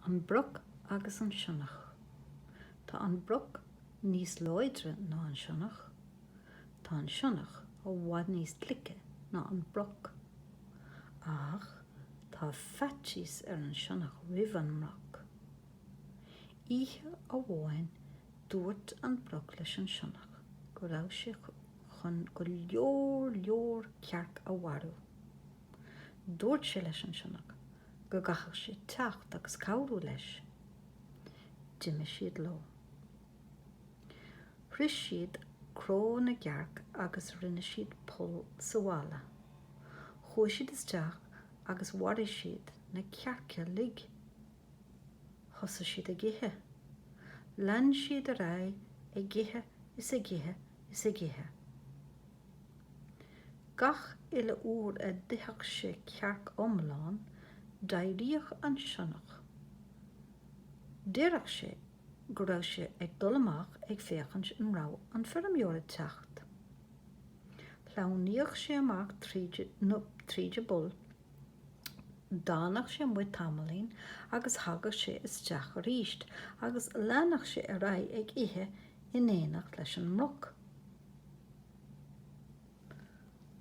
An broc agus an sionnach. Tá an broc níos láidre ná an sionnach. Tá an sionnach i bhfad níos glice ná an broc. Ach tá faitíos ar an sionnach roimh an mbroc. Oíche amháin dúirt an broc leis an sionnach go raibh sé chun go leor leor cearc a mharú. Dúirt sé leis an sionnach go gcaithfeadh sé teacht agus cabhrú leis. D'imigh siad leo. Bhris siad cró na gcearc agus rinne siad poll sa bhalla. Chuaigh siad isteach agus mharaigh siad na cearca uilig. Thosaigh siad ag ithe. Lean siad ar aghaidh ag ithe is ag ithe is ag ithe. Gach uile uair a d'itheadh sé cearc iomlán, d'éiríodh an sionnach. Deireadh sé go raibh sé ag dul amach ag féachaint an raibh an feirmeoir ag teacht. Shleamhnaíodh sé amach tríd an bpoll, d'fhanadh sé amuigh tamaillín agus thagadh sé isteach aríst agus leanadh sé ar aghaidh ag ithe in éineacht leis an mbroc.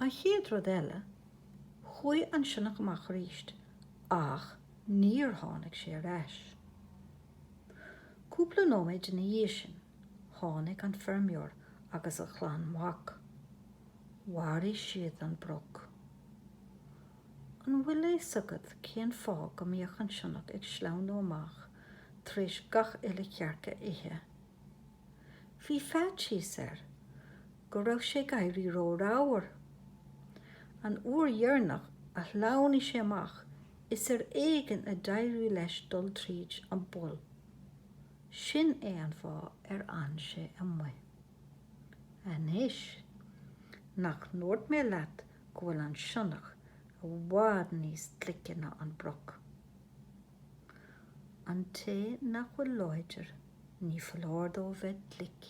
An chéad rud eile, chuaigh an sionnach amach aríst ach níor tháinig sé ar ais. Cúpla nóiméad ina dhiaidh sin, tháinig an feirmeoir agus a chlann mhac. Mharaigh siad an broc. An bhfuil fhios agat cén fáth go mbíodh an sionnach ag sleamhnú amach tar éis gach uile chearc a ithe? Bhí faitíos air go raibh sé ag éirí ró-ramhar. An uair dheireanach a shleamhnaigh sé amach is ar éigean a d'éirigh leis dul tríd an bpoll. Sin é an fáth ar fhan sé amuigh. Anois, nach ndúirt mé leat go bhfuil an sionnach i bhfad níos glice ná an broc? An té nach bhfuil láidir, ní foláir dó bheith glic.